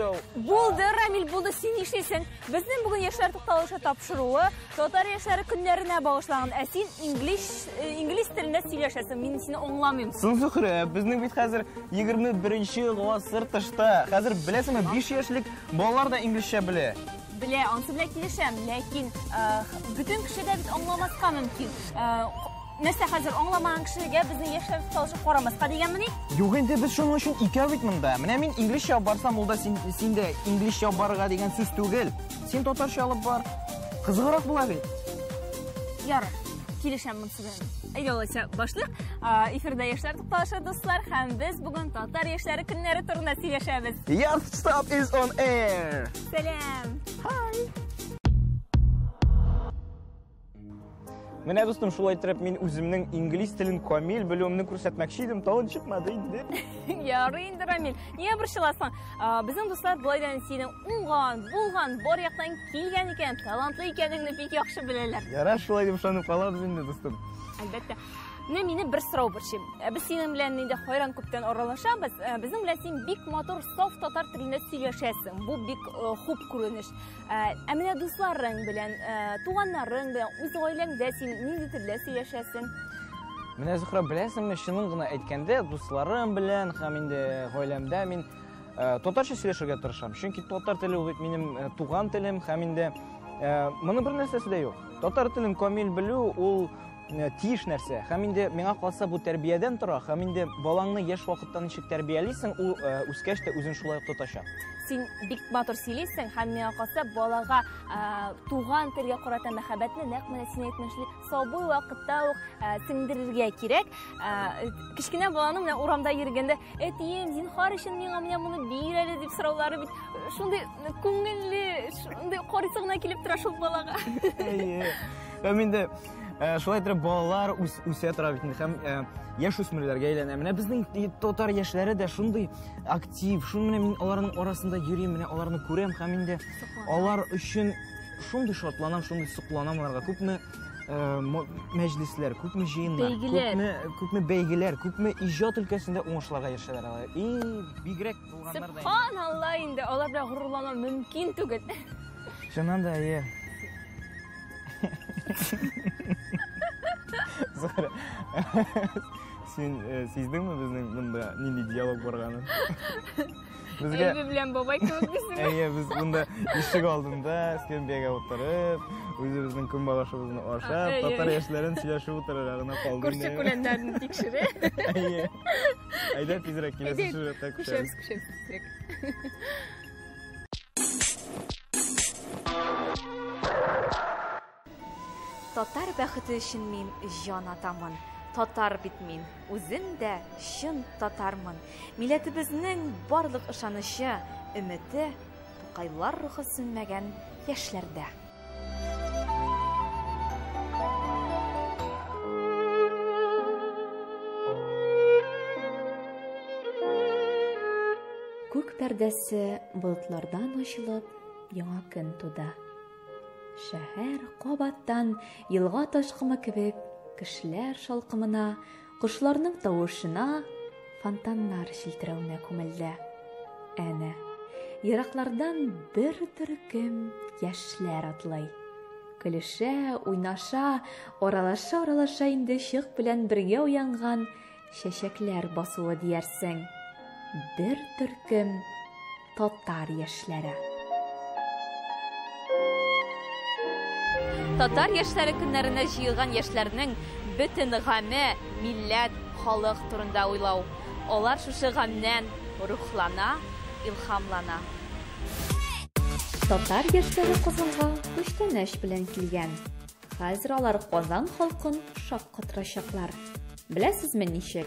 Булды, uh, Рамил, булды, син нишлисең? Безнең бүген яшьләр тукталышы тапшыруы татар яшьләре көннәренә багышланган. Ә син инглиш э, инглиз телендә сөйләшәсең. Мин сине аңламыйм. Сын Зөхрә, безнең бит хәзер 21-нче гасыр тышта. Хәзер беләсеңме, 5 яшьлек балалар да инглизчә белә. Белә, ансы белән килешәм, ләкин э, бөтен кеше дә бит аңламаска мөмкин. Э, Нәрсә хәзер аңламаган кешегә безнең яшьләр социалчы карамаска дигәнмени? Юк инде без шуның өчен икәү бит монда. Менә мин инглизчә алып барсам, ул да син син дә инглизчә алып барырга дигән сүз түгел. Син татарча алып бар. Кызыграк була бит. Ярар, килешәм монысы белән. Әйдә алайса башлыйк. Эфирда яшьләр тукталышы дуслар һәм без бүген татар яшьләре көннәре турында сөйләшәбез. Yes, stop is on air. Сәлам. Hi. Менә дустым, шулай итеп мин үземнең инглиз телен камил белүемне күрсәтмәкче идем, тагын чыкмады инде. Ярый инде, Рамил. Нигә борчыласың? Безнең дуслар болай да синең уңган, булган, бар яктан килгән икән, талантлы икәнеңне бик яхшы беләләр. Ярар, шулай дип ышанып калабыз инде, дустым. Әлбәттә. Менә мине бер сорау борчый. Ә без синең белән инде хайран күптән аралашабыз. Ә безнең белән син бик матур, саф татар телендә сөйләшәсең. Бу бик э, хуп күренеш. Ә, ә менә дусларың белән, ә, туганнарың белән, үз гаиләңдә син нинди телдә сөйләшәсең? Менә Зухра, беләсеңме, чынын гына әйткәндә, дусларым белән һәм инде гаиләмдә мин э, татарча сөйләшергә тырышам. Чөнки татар теле ул бит минем э, туган телем һәм инде э, моны бер нәрсәсе дә юк. Татар телен камил белү ул э, тиеш нәрсә. Һәм инде миңа калса бу тәрбиядән тора, һәм инде балаңны яшь вакыттан ничек тәрбиялисең, ул э, үскәч тә үзен шулай ук тотачак. Син бик матур сөйлисең, һәм миңа калса балага э, туган телгә карата мәхәббәтне нәкъ менә син әйтмешли сабый вакытта ук сеңдерергә кирәк. Кечкенә баланың менә урамда йөргәндә, "Әтием, зинхар өчен миңа менә моны бир әле" дип сораулары бит шундый күңелле, шундый карыйсы гына килеп тора шул балага. Әйе. Һәм инде Э, шулай итеп балалар үсә тора бит һәм э, яшь үсмерләргә әйләнә менә безнең татар яшьләре дә шундый актив шул менә мин аларның арасында йөрим менә аларны күрәм һәм инде алар өчен шундый шатланам шундый сокланам аларга күпме э, мәҗлесләр күпме җыеннар күпме күпме бәйгеләр күпме иҗат өлкәсендә уңышларга ирешәләр алар и бигрәк булганнар да субханалла инде алар белән горурлану мөмкин түгел чыннан да әйе Зара, син э, сиздеңме безнең монда нинди диалог барганын? Безгә Әйбе белән бабай кебек бисең. Әйе, без монда ишек алдында скамбияга утырып, үзебезнең көнбагышыбызны ашап, Әйе. татар яшьләрен сөйләшеп утырырга гына калды. Күрше күләннәрен тикшерә. Әйе. Әйдә тизрәк киләсе Әйдә, сюжетта күшәбез. Күшәбез, күшәбез. Татар бәхете өчен мин җан атамын. Татар бит мин. Үзем дә чын татармын. Милләтебезнең барлык ышанычы, өмете Тукайлар рухы сүнмәгән яшьләрдә. Күк пәрдәсе болытлардан ачылып, яңа көн туды. Шәһәр кабаттан елга ташкымы кебек кешеләр шалкымына, Кошларның тавышына, фонтаннар челтерәвенә күмелде. Әнә, ераклардан бер төркем яшьләр атлый. Көлешә, уйнаша, аралаша-аралаша инде чык белән бергә уянган чәчәкләр басуы диярсең. Бер төркем татар яшьләре. Татар яшьләре көннәренә җыелган яшьләрнең бөтен гаме, милләт, халык турында уйлау. Алар шушы гамнән рухлана, илхамлана. Татар яшьләре Казанга күчтәнәч белән килгән. Хәзер алар Казан халкын шаккатырачаклар. Беләсезме ничек?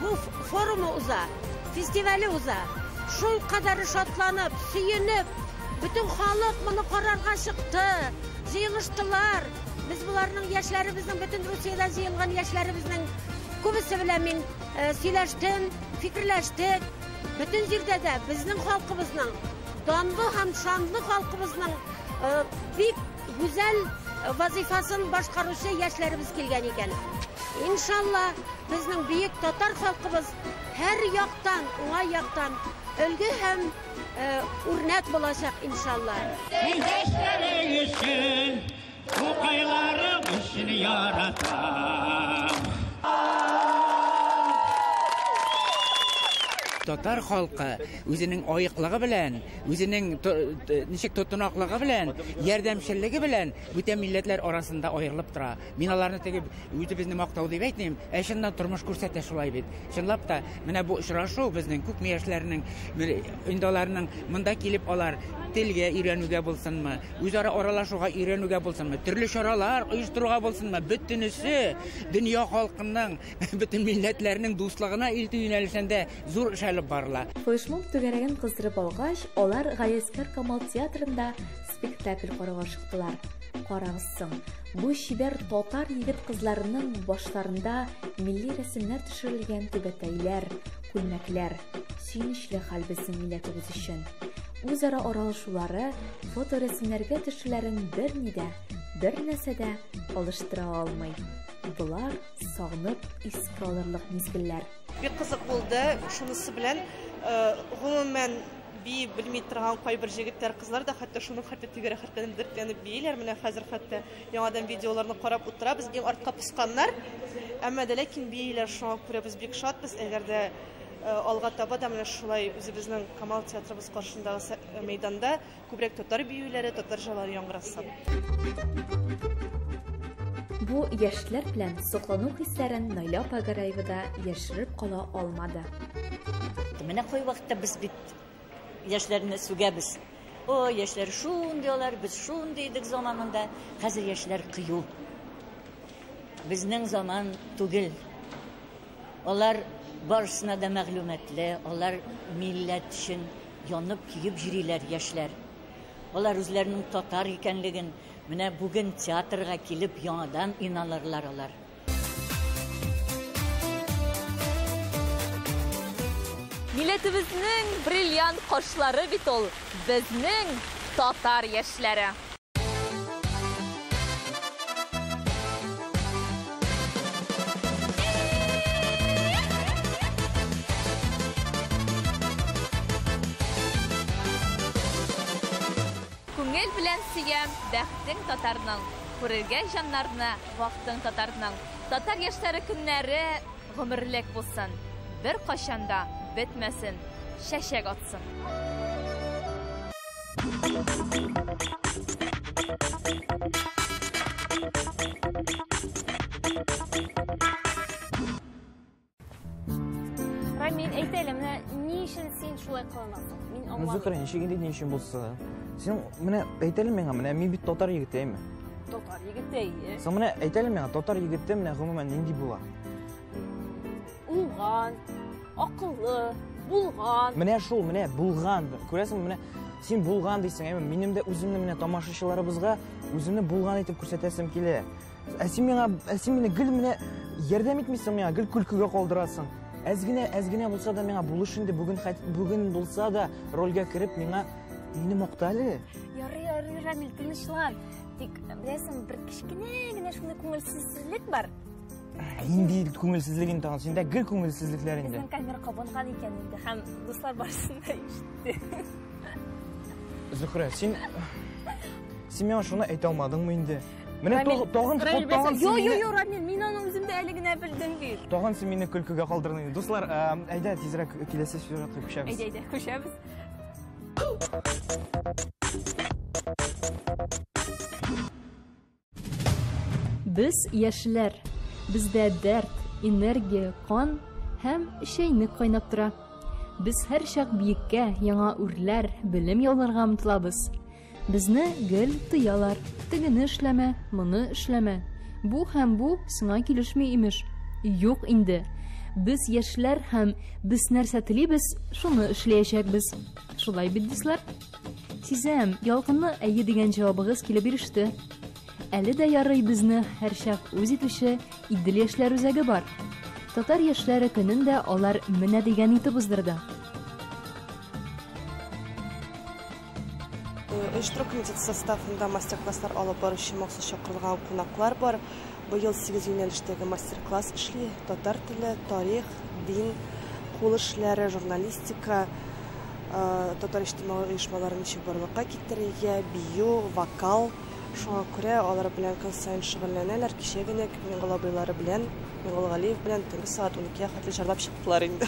Бу форумы уза, фестивале уза. Шул кадәр шатланып, сөенеп, бөтен халык моны карарга чыкты, җыелыштылар. Без боларның яшьләребезнең, бөтен Русиядә җыелган яшьләребезнең күбесе белән мин э, сөйләштем, фикерләштек. Бөтен җирдә дә безнең халкыбызның, данлы һәм шанлы халкыбызның э, бик гүзәл вазифасын башкаручы яшьләребез килгән икән. Иншалла, Безнең бөек татар халкыбыз һәр яктан, уңай яктан өлге һәм үрнәк булачак, иншалла. Көндәшләрең өчен, тукайларым өчен яратам. Татар халкы үзенең аеклыгы белән, үзенең ничек тотынаклыгы белән, ярдәмчеллеге белән бүтән милләтләр арасында аерылып тора. Мин аларны теге үзебезне мактау дип әйтмим, ә чыннан тормыш күрсәтә шулай бит. Чынлап та, менә бу очрашу безнең күпме яшьләрнең, инде аларның монда килеп алар телгә өйрәнүгә булсынмы, үзара аралашуга өйрәнүгә булсынмы, төрле чаралар оештыруга булсынмы, бөтенесе дөнья халкының, бөтен милләтләрнең дуслыгына илтү юнәлешендә зур эш алып барыла. Флешмоб түгәрәген кыздырып алгач, алар Галиәсгар Камал театрында спектакль карауга чыктылар. Карагыз соң, бу чибәр татар егет-кызларының башларында милли рәсемнәр төшерелгән түбәтәйләр, күлмәкләр. Сөенечле хәл безнең милләтебез өчен. Үзара аралашулары, фоторәсемнәргә төшүләрен берни дә, бер нәрсә дә алыштыра алмый. Болар сагынып искә алырлык мизгелләр. Бик кызык булды. Шунысы белән, гомумән, Бии белми торган кайбер җегетләр, кызлар да хәтта шуның хәтле тибә рәхәтләнеп, дәртләнеп бииләр. Менә хәзер хәтта яңадан видеоларны карап утырабыз. Иң артка посканнар. Әмма дә ләкин бииләр, шуңа күрә без бик шатбыз. Әгәр дә э, алга таба да менә шулай үзебезнең Камал театрыбыз каршындагы сә- мәйданда күбрәк татар биюләре, татар җырлары яңгыраса. Бу яшьләр белән соклану хисләрен Найля апа Гараева да яшереп кала алмады. Менә кой вакытта без бит яшьләрне сүгәбез. О, яшьләр шундый алар, без шундый идек заманында. Хәзер яшьләр кыю. Безнең заман түгел. Алар барысына да мәгълүматлы, алар милләт өчен янып, көеп йөриләр яшьләр. Алар үзләренең татар икәнлеген менә бүген театрга килеп яңадан иналырлар алар. Милләтебезнең бриллиант кошлары бит ул, безнең татар яшьләре. Күңел белән сөям, бәхтең татарның, күрергә җаннарны, вактың татарның. Татар яшьләре көннәре Гомерлек булсын, беркайчан да бетмәсен, чәчәк атсын! Рамил, әйт әле, менә ни өчен син шулай кыланасың? Мин Ну, аңламыйм. Зөһрә, ничек инде ни өчен булса да. Син менә әйт әле миңа, менә мин бит татар егетеме? Татар егете, әйе. Соң менә әйт әле миңа, татар егете менә гомумән нинди була? Уңган, акыллы, булган. Менә шул, менә булган. Күрәсең, менә син булган дисең, әйме, минем дә үземне менә тамашачыларыбызга үземне булган итеп күрсәтәсем килә. Ә син миңа, ә син мине гел менә ярдәм итмисең миңа, гел көлкегә калдырасың. Әз генә, әз генә булса да миңа булыш инде бүген, бүген булса да рольгә кереп миңа мине макта әле. Ярый, ярый, Рамил, тынычлан. Тик, беләсең, бер кечкенә генә шундый күңелсезлек бар. инде күңелсезлек инде тагын синдә гел күңелсезлекләр инде безнең камера кабынган икән инде һәм дуслар барысын да ишетте зөһрә син син миңа шуны әйтә алмадыңмы инде менә тагын тагын йо йо йо рамил мин аны үзем дә әле генә белдем бит тагын син мине көлкегә калдырдың дуслар әйдә тизрәк киләсе сюжетка күчәбез әйдә әйдә күчәбез Без яшьләр. Бездә дәрт, энергия, кан һәм чәйнек кайнап тора. Без һәрчак биеккә, яңа үрләр, белем яуларга омтылабыз. Безне гел тыялар. Тегене эшләмә, моны эшләмә. Бу һәм бу сиңа килешми имеш. Юк инде. Без яшьләр һәм без нәрсә телибез, шуны эшләячәкбез. Шулай бит, дуслар? Сизәм, ялкынлы әйе дигән җавабыгыз килеп иреште. Әле дә ярый безне һәрчак үз итүче Идел яшьләр үзәге бар. Татар яшьләре көнен дә алар менә дигән итеп уздырды. оештыру комитеты составында мастер-класслар алып баручы махсус чакырылган кунаклар бар. Быел 8 юнәлештәге мастер-класс эшли. Татар теле, тарих, дин, кул эшләре, журналистика, Татар иҗтимагый оешмалары ничек барлыкка китерелгә, бию, вокал. Шуңа күрә алар белән көн саен шөгыльләнәләр. Кичә генә Миңгол абыйлары белән, Миңгол Галиев белән төнге сәгать уникегә хәтле җырлап чыктылар инде.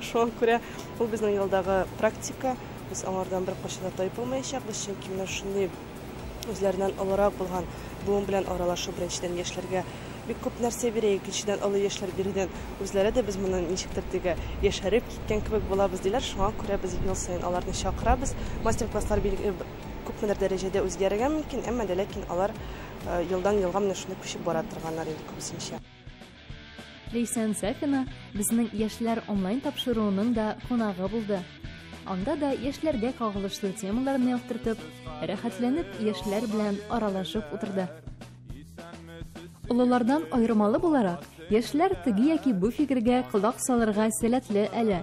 Шуңа күрә ул безнең елдагы практика, без аңардан беркайчан да тайпылмаячакбыз, чөнки менә шундый Үзләреннән олырак булган буын белән аралашу, беренчедән, яшьләргә бик күп нәрсә бирә, икенчедән, олы яшьләр бирүдән үзләре дә без моннан ничектер теге яшәреп киткән кебек булабыз, диләр. Шуңа күрә без ел саен аларны чакырабыз. Мастер-класслар бил, э, күпмедер дәрәҗәдә үзгәрергә мөмкин, әмма дә ләкин алар, э, елдан-елга менә шундый күчеп бара торганнар инде күбесенчә. Лейсән Сафина безнең яшьләр онлайн тапшыруының да кунагы булды. Анда да яшьләргә кагылышлы темаларны яктыртып, рәхәтләнеп яшьләр белән аралашып утырды. Олылардан аермалы буларак, яшьләр теге яки бу фикергә колак салырга сәләтле әле,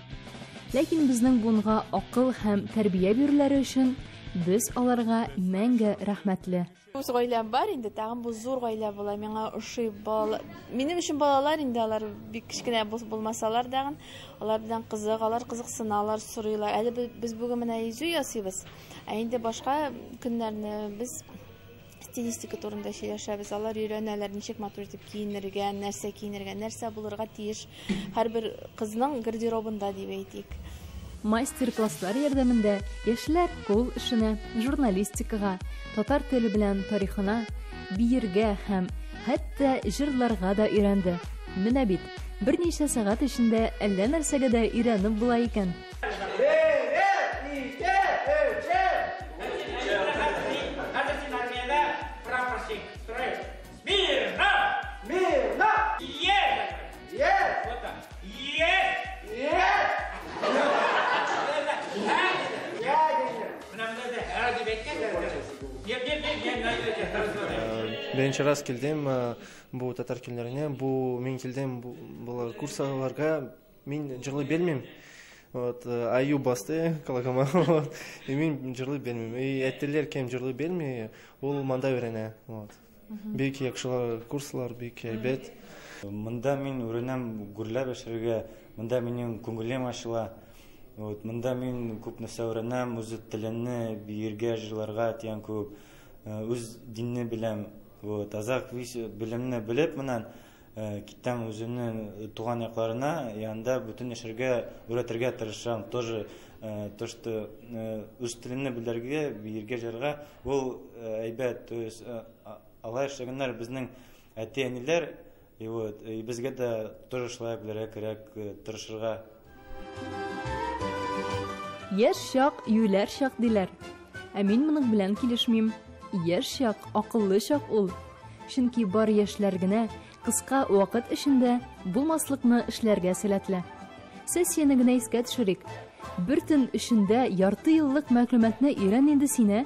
Ләкин безнең буынга акыл һәм тәрбия бирүләре өчен без аларга мәңге рәхмәтле. Үз гаиләм бар инде, тагын бу зур гаилә була. Миңа ошый бала. Минем өчен балалар инде алар бик кечкенә булмасалар да, алар белән кызык, алар кызыксыналар, сорыйлар. Әле без бүген менә изү ясыйбыз, ә инде башка көннәрне без стилистика турында сөйләшәбез. Алар өйрәнәләр, ничек матур итеп киенергә, нәрсә киенергә, нәрсә булырга тиеш һәрбер кызның гардеробында дип әйтик. Мастер-класслар ярдәмендә яшьләр кул эшенә, журналистикага, татар теле белән тарихына, биергә һәм хәтта җырларга да өйрәнде. Менә бит, берничә сәгать эчендә әллә нәрсәгә дә өйрәнеп була икән. Беренче раз килдем бу татар көннәренә, бу мин килдем булар курсларга, Мин җырлый белмим. Вот, э, аю басты калагама. Вот. И мин җырлый белмим. И әтиләр кем җырлый белми, ул монда өйрәнә. Вот. Бик яхшылар курслар, бик әйбәт. Монда мин үренәм гүрләр бешерергә, монда минем күңелем ачыла. Вот, монда мин күп нәрсә үренәм, үз теленне биергә, җырларга дигән күп. Э, Үз динне беләм. Вот, азак вис- белемне белеп моннан Китәм үземнең туган якларына, янда бүтән яшәргә өйрәтергә тырышам. Тоже то, что үз телемне белергә, биергә, җырга ул әйбәт. То есть алай эшләгәннәр безнең әти-әниләр, и вот, и безгә дә тоже шулай белергә кирәк, тырышырга. Яшь чак, юләр чак диләр. Ә мин моның белән килешмим. Яшь чак, акыллы чак ул. Чөнки бар яшьләр генә кыска вакыт эчендә булмаслыкны эшләргә сәләтле. Сессияне генә искә төшерик. Бер төн эчендә ярты еллык мәгълүматны өйрән инде сине.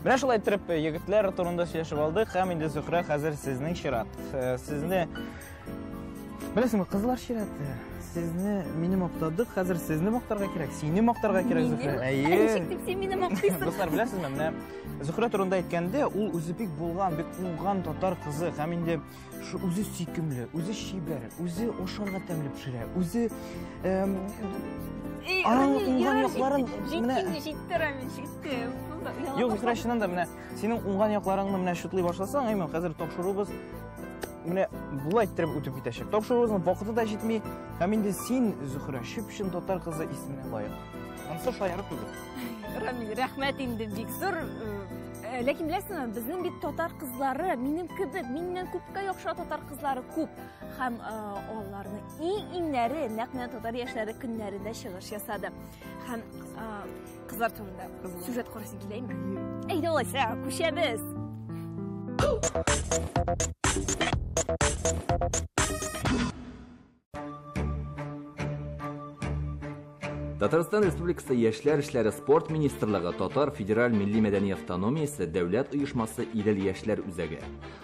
Менә шулай иттереп э, егетләр турында сөйләшеп алдык һәм инде Зөһрә хәзер сезнең чират. Э, сезне Беләсеңме, кызлар чираты. Сезне мине мактадык, хәзер сезне мактарга кирәк. Сине мактарга кирәк, Зөһрә. Әйе. Ничек дип син мине мактыйсың? Дуслар, беләсезме, менә Зөһрә турында әйткәндә, ул үзе бик булган, бик уңган татар кызы һәм инде Шу үзе сөйкемле, үзе чибәр, үзе ашарга тәмле пешерә, үзе эм, Эй, Ана, Рамил, уңган я якларын җит- менә- җитте, җитте, Рамил, җитте. Бу да яңа Юк, Зөһрә, чыннан да менә синең уңган якларыңны менә шутлый башласаң, әйме, хәзер тапшыруыбыз менә болай иттереп үтеп китәчәк. Тапшыруыбызның вакыты да җитми, һәм инде син, Зөһрә, чып-чын татар кызы исеменә лаек. Анысы шаярып түгел. Рамил, рәхмәт инде бик зур. Э, Э, ләкин беләсеңме безнең бит татар кызлары минем кебек миннән күпкә яхшы татар кызлары күп һәм э, аларны иң иңнәре нәкъ менә татар яшьләре көннәрендә чыгыш ясады һәм э, кызлар турында сюжет карасың киләме әйдә алайса күчәбез Татарстан Республикасы Яшьләр эшләре спорт министрлыгы Татар федераль милли мәдәни автономиясе дәүләт оешмасы Идел яшьләр үзәге.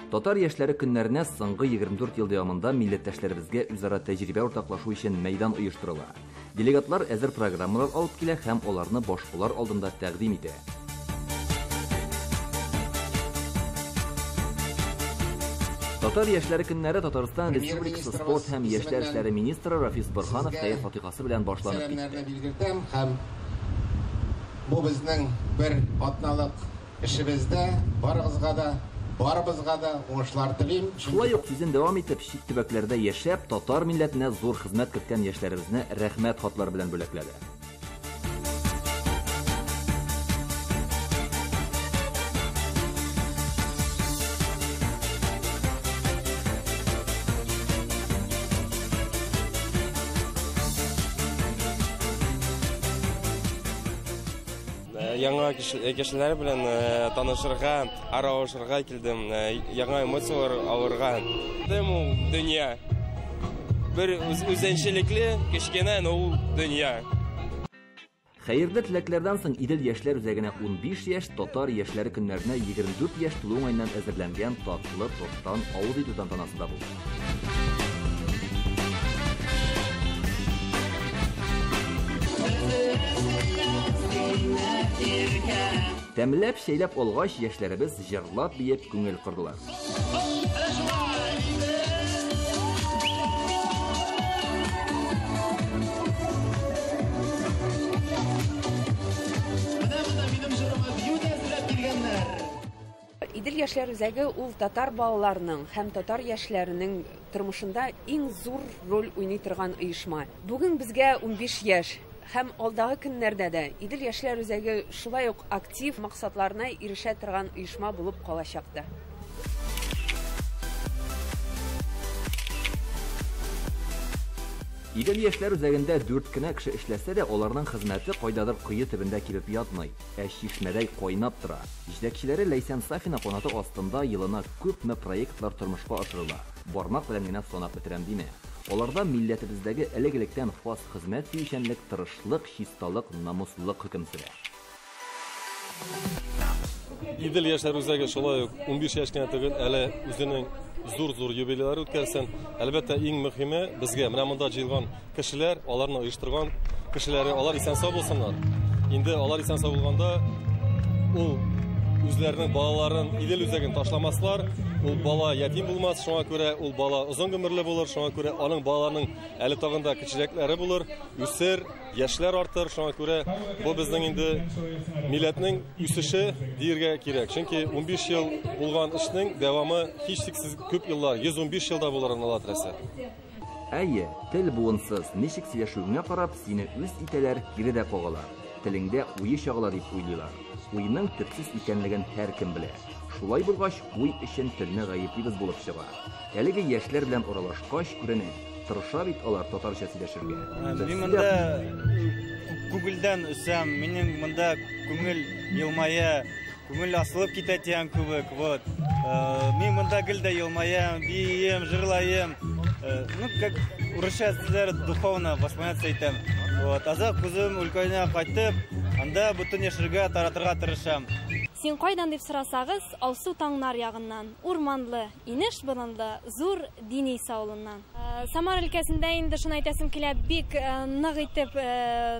Татар яшьләре көннәренә соңгы 24 ел дәвамында милләттәшләребезгә үзара тәҗрибә уртаклашу өчен мәйдан оештырыла. Делегатлар әзер программалар алып килә һәм аларны башкалар алдында тәкъдим итә. Татар яшьләре көннәре Татарстан Республикасы спорт һәм яшьләр эшләре министры Рафис Борханов хәер фатихасы белән башланып китте. Бу безнең бер атналык Эшебездә барыгызга да, барыбызга да уңышлар телим, чөнки. Шулай ук сүзен дәвам итеп, чит төбәкләрдә яшәп, татар милләтенә зур хезмәт керткән яшьләребезне Рәхмәт хатлары белән бүләкләде. Яңа кешеләр белән танышырга, аралашырга килдем, яңа эмоцияләр алырга. Дым ул дөнья. Бер үзенчәлекле кечкенә, но ул дөнья. Хәерле теләкләрдән соң Идел яшьләр үзәгенә 15 яшь татар яшьләре көннәренә 24 яшь тулу уңаеннан әзерләнгән татлы тосттан авыз итү тантанасы да булды. Тәмләп чәйләп алгач, яшьләребез җырлап биеп күңел кырдылар. Идел яшьләр үзәге ул татар балаларының һәм татар яшьләренең тормышында иң зур роль уйный торган оешма. Бүген безгә 15 яшь һәм алдагы көннәрдә дә Идел яшьләр үзәге шулай ук актив максатларына ирешә торган оешма булып калачак та. Идел яшьләр үзәгендә дүрт кенә кеше эшләсә дә, аларның хезмәте кайдадыр кое төбендә кибеп ятмый. Ә чишмәдәй кайнап тора. Җитәкчеләре Ләйсән Сафина канаты астында елына күпме проектлар тормышка ашырыла, бармак белән генә санап бетерәм димә. Аларда милләтебездәге элек-электән хас хезмәт сөючәнлек, тырышлык, чисталык, намуслылык хөкем сөрә. Идел яшьләр үзәге шулай ук унбиш яшь кенә түгел, әле үзенең зур-зур юбилейлар үткәрсен. Әлбәттә, иң мөхиме безгә, менә монда җыелган Кешеләр, аларны оештырган кешеләре, алар исән-сау булсыннар. Инде алар исән-сау булганда, ул үзләренең балаларын Идел үзәген ташламаслар. Ул бала ятим булмас, шуңа күрә ул бала озын гомерле булыр, шуңа күрә аның балаларының әле тагын да кечерәкләре булыр, үсер, яшьләр артыр, шуңа күрә бу безнең инде милләтнең үсеше диергә кирәк. Чөнки 15 ел булган эшнең дәвамы һичшиксез күп еллар, 115 елда булыр аны Әйе, тел буынсыз, ничек сөйләшүеңә карап, сине үз итәләр, кире дә кагалар. Телеңдә уе чагыла дип уйлыйлар. Уйның төпсез икәнлеген һәркем белә. Шулай булгач, уй өчен телне гаеплибез булып чыга. Әлеге яшьләр белән аралашкач, күренә, тырыша бит алар татарча сөйләшергә. Мин монда күңелдән үсәм, минем монда күңел елмая. Күңел асылып китә дигән кебек, вот. Э, мин монда гел дә елмаям, бием, җырлаем. Э, ну, как урысча сүзләр духовно восполняться итәм. Вот. Азак күзем өлкәенә кайтып, анда бөтен яшергә таратырга тырышам. Син кайдан дип сорасагыз, алсу таңнар ягыннан, урманлы, Инеш борынлы, зур Дениса авылыннан. Самара өлкәсендә инде шуны әйтәсем килә, бик нык итеп,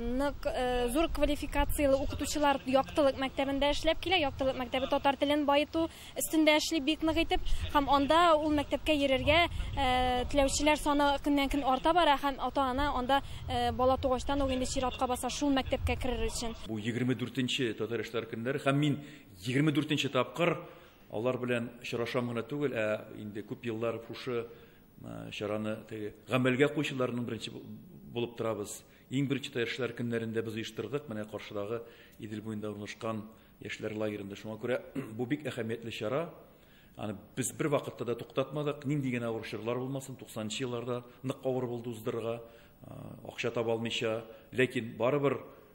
нык зур квалификацияле укытучылар Яктылык мәктәбендә эшләп килә. Яктылык мәктәбе татар телен баету өстендә эшли бик нык итеп. Һәм анда ул мәктәпкә йөрергә теләүчеләр саны көннән-көн арта бара һәм ата-ана анда бала тугачтан ук инде чиратка баса шул мәктәпкә керер өчен. Бу егерме дүртенче Татар эшләр көннәре һәм мин егерме дүртенче тапкыр Алар белән очрашам гына түгел, ә инде күп еллар шушы чараны теге гамәлгә куючыларның беренче булып торабыз. Иң беренче яшьләр көннәрендә без оештырдык, менә каршыдагы Идел буенда урнашкан яшьләр лагеренда. Шуңа күрә бу бик әһәмиятле чара. Аны без бер вакытта да туктатмадык. Нинди генә авыр чорлар булмасын, 90 елларда нык авыр булды уздырырга, акча таба алмыйча, ләкин барыбер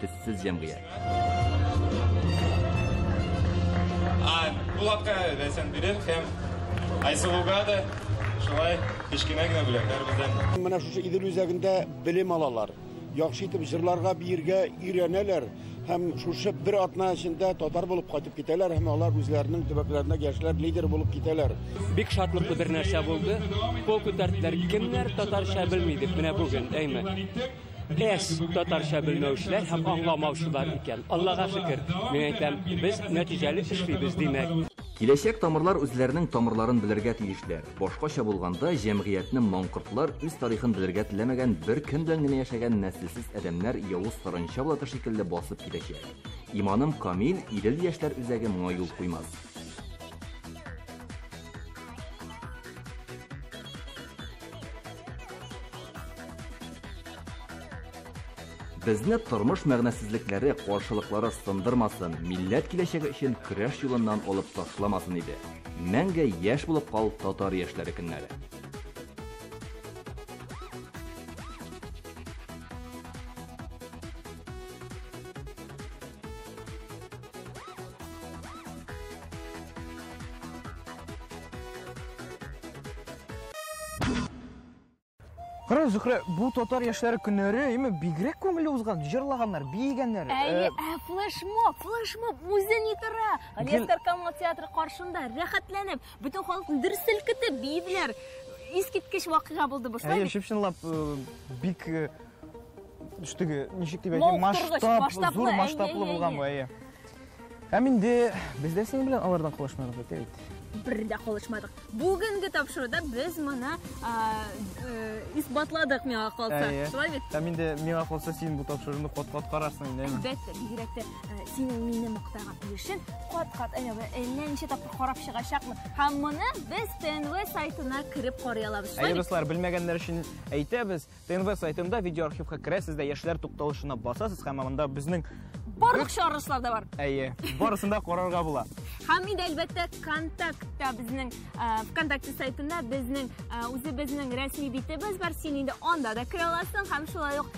Төссез җәмгыять. Булатка рәсем бирер һәм Айсылуга да шулай кечкенә генә бүләкләр бездән. Менә шушы Идел үзәгендә белем алалар. Яхшы итеп җырларга, биергә өйрәнәләр һәм шушы бер атна эчендә татар булып кайтып китәләр һәм алар үзләренең төбәкләренә яшьләр лидер булып китәләр. Бик шатлыклы бер нәрсә булды. Кул күтәрделәр. Кемнәр татарча белми дип менә бүген, әйме. Без татарча белмәүчеләр һәм аңламаучылар икән. Аллага шөкер, мин әйтәм, без нәтиҗәле эшлибез, димәк. Киләчәк тамырлар үзләренең тамырларын белергә тиешләр. Башкача булганда, җәмгыятьне маңкортлар үз тарихын белергә теләмәгән бер кем белән генә яшәгән нәселсез адәмнәр явыз саранча блаты шикелле басып китәчәк. Иманым камил, Идел яшьләр үзәге моңа юл куймас. Безне тормыш мәгънәсезлекләре, каршылыклары сындырмасын, милләт киләчәге өчен көрәш юлыннан алып ташламасын иде. Мәңге яшь булып кал татар яшьләре көннәре. Кара Зөхрә, бу татар яшьләре көннәре име бигрәк күңелле узган, җырлаганнар, биегәннәр. Әйе, ә флешмоб, флешмоб үзе ни тора? Галиәсгар Камал театры каршында рәхәтләнеп, бөтен халыкны дер селкетеп биеделәр. Искиткеч вакыйга булды бу. Әйе, чып-чынлап бик үстеге ничек дип әйтим масштаб зур масштаблы булган бу әйе һәм инде без дә синең белән алардан калышмадык бит бит бер дә калышмадык бүгенге тапшыруда без моны э, исбатладык миңа калса шулай бит һәм инде миңа калса син бу тапшыруны кат кат карарсың инде әлбәттә бигрәк тә э, синең мине мактаган өлешен кат кат әллә э, ничә тапкыр карап чыгачакмын һәм моны без тнв сайтына кереп карый алабыз әйе дуслар белмәгәннәр өчен әйтәбез ТНВ сайтында видеоархивка керәсез дә яшьләр тукталышына басасыз һәм анда безнең барлык чыгарылышлар да бар. Әйе, барысын да карарга була. Һәм инде әлбәттә контактта безнең ВКонтакте сайтында безнең үзебезнең рәсми битебез бар. Син инде анда да керә аласың һәм шулай ук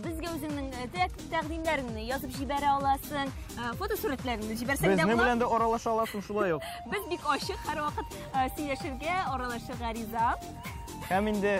безгә үзеңнең тәкъдимнәреңне язып җибәрә аласың, фотосурәтләреңне җибәрсәң дә була. Безнең белән дә аралаша аласың шулай ук. Без бик ачык һәрвакыт сөйләшергә, аралашырга риза. Һәм инде